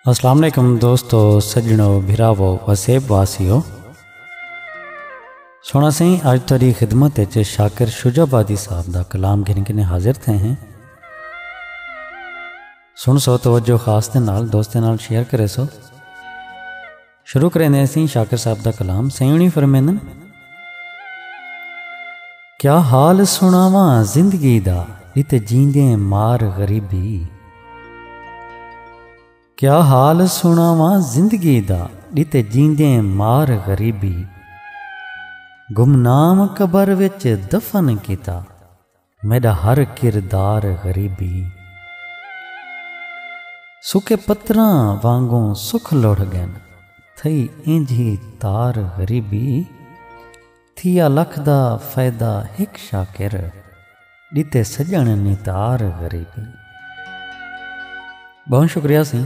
السلام علیکم دوستو سجنو بھراو وسیب واسیو سونا سائیں اج تیری خدمت وچ شاکر شجاع آبادی صاحب دا کلام گھن کے حاضر تھے ہیں سن سو توجہ خاص دے نال دوستیں نال شیئر کرے سو شروع کریں دے سین شاکر صاحب دا کلام سیونی فرمیندن کیا حال سناواں زندگی دا ات جیندیں مار غریبی کیا حال سناواں زندگی دا ات جیندیں مار غریبی گمنام قبر وچ دفن کیتا میݙا ہر کردار غریبی اے۔ سکے پتراں وانگوں سکھ لڑھ ڳن تھئی اینجھی تار غریبی اے۔ تھیا لکھ دا فیدا ہک شاکر ݙتے سڄݨ نتار غریبی اے۔ بہوں شکریہ سئیں۔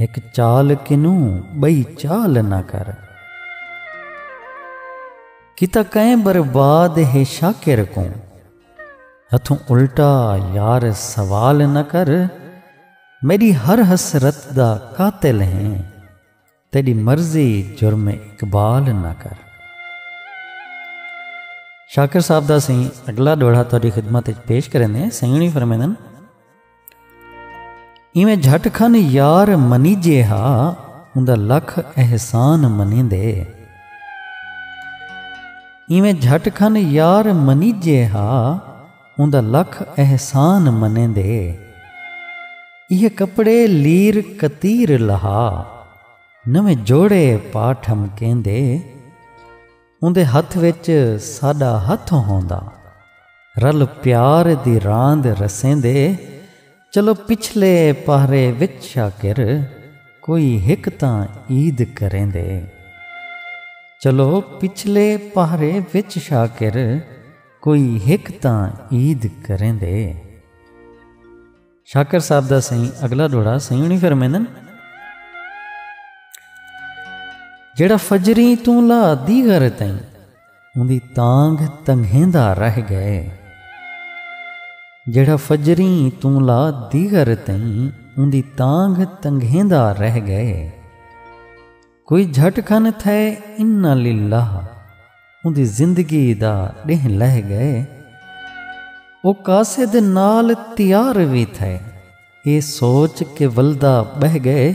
ہک چال کنوں ٻئی چال نہ کر۔ کیتا کئیں برباد ہے شاکر کوں۔ ہتھوں الٹا یار سوال نہ کر۔ میݙی ہر حسرت دا قاتل ہیں۔ تیݙی مرضی جرم اقبال نہ کر۔ شاکر صاحب دا سئیں اڳلا ݙوہڑا تہاݙی خدمت وچ پیش کریندے ہیں۔ سئیں ہوݨی فرمیندن۔ ایویں جھٹ کھن یار منیجے ہا اوندا لکھ احسان منیندے ایویں جھٹ کھن یار منیجے ہا اوندا لکھ احسان منیندے یہ کپڑے لیر کتیر لہا نویں جوڑے پاٹھم کیندے اوندے ہتھ وچ ساݙا ہتھ ہوندا۔ رل پیار دی راند رسیندے چلو پچھلے پہرے وچ شاکر کوئی ہک تاں عید کریندے۔ چلو پچھلے پہرے وچ شاکر کوئی ہک تاں عید کریندے۔ شاکر صاحب دا سائیں اگلا ڈوڑا سائیں ہونی فرمیندن جڑا فجری توں لا دی گھر تائیں اندی تانگ تنگھیندا رہ گئے جڑا فجری توں لا دی گھر تائیں اندی تانگ تنگھیندا رہ گئے کوئی جھٹ کھن تھئے انا للہ اوندی زندگی دا ڈینہہ لہہ گئے او قاصد نال تیار وی تھئے اے سوچ کے ولدا بہہ گئے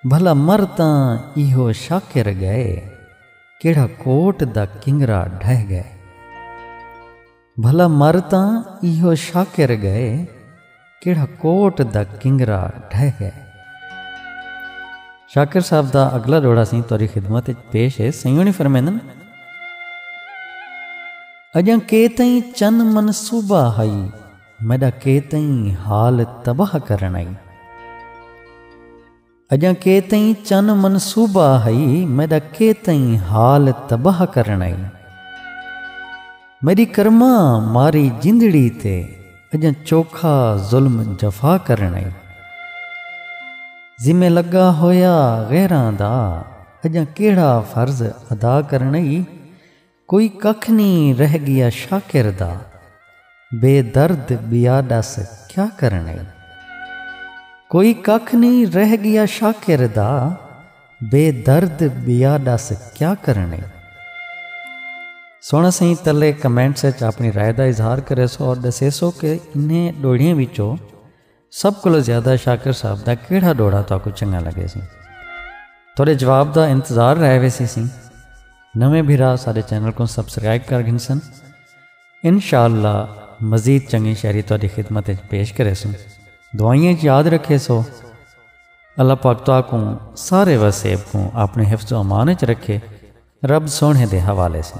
بھلا مر تاں ایہو شاکر گئے کیڑھا کوٹ دا کنگرا ڈھہ گئے۔ بھلا مر تاں ایہو شاکر ڳئے کیڑھا کوٹ دا کنگرا ڈھہ ڳئے۔ شاکر صاحب دا اگلا ݙوہڑا سئیں تہاݙی خدمت اچ پیش ہے۔ سئیں ہوݨی فرمیندن۔ اڄاں کے تئیں چن منصوبہ ہئی میݙا کے تئیں حال تباہ کرݨ آئی۔ اجاں کے تئیں چن منصوبہ ہئی میڈا کے تئیں حال تباہ کرنڑائی میڈی کرماں ماری جندڑی تے اجاں چوکھا ظلم جفا کرنڑائی ذمہ لگا ہویا غیراں دا اجاں کیڑھا فرض ادا کرنڑائی کوئی ککھ نی رہ گیا شاکر دا بے درد بیا ڈس کیا کرنے کوئی ککھ نی رہ گیا شاکر دا بے درد بیا ڈس کیا کرنے سونا سائیں تلے کمنٹس اچ اپنی رائے دا اظہار کرے سو اور ڈسے سو کہ انہیں ڈوڑیاں وچوں سب کولو زیادہ شاکر صاحب دا کیڑھا ڈوڑا تاکو چنگا لگے سی تھوڑے جواب دا انتظار رہ وے سی سی نویں بھرا سارے چینل کو سبسکرائب کر گھنسن انشاءاللہ مزید چنگی شہری تاری خدمت پیش کرے سن دعائیں یاد رکھے سو اللہ پاک تو کو سارے وسیب کو اپنے حفظ و امان چ رکھے رب سونے دے حوالے سے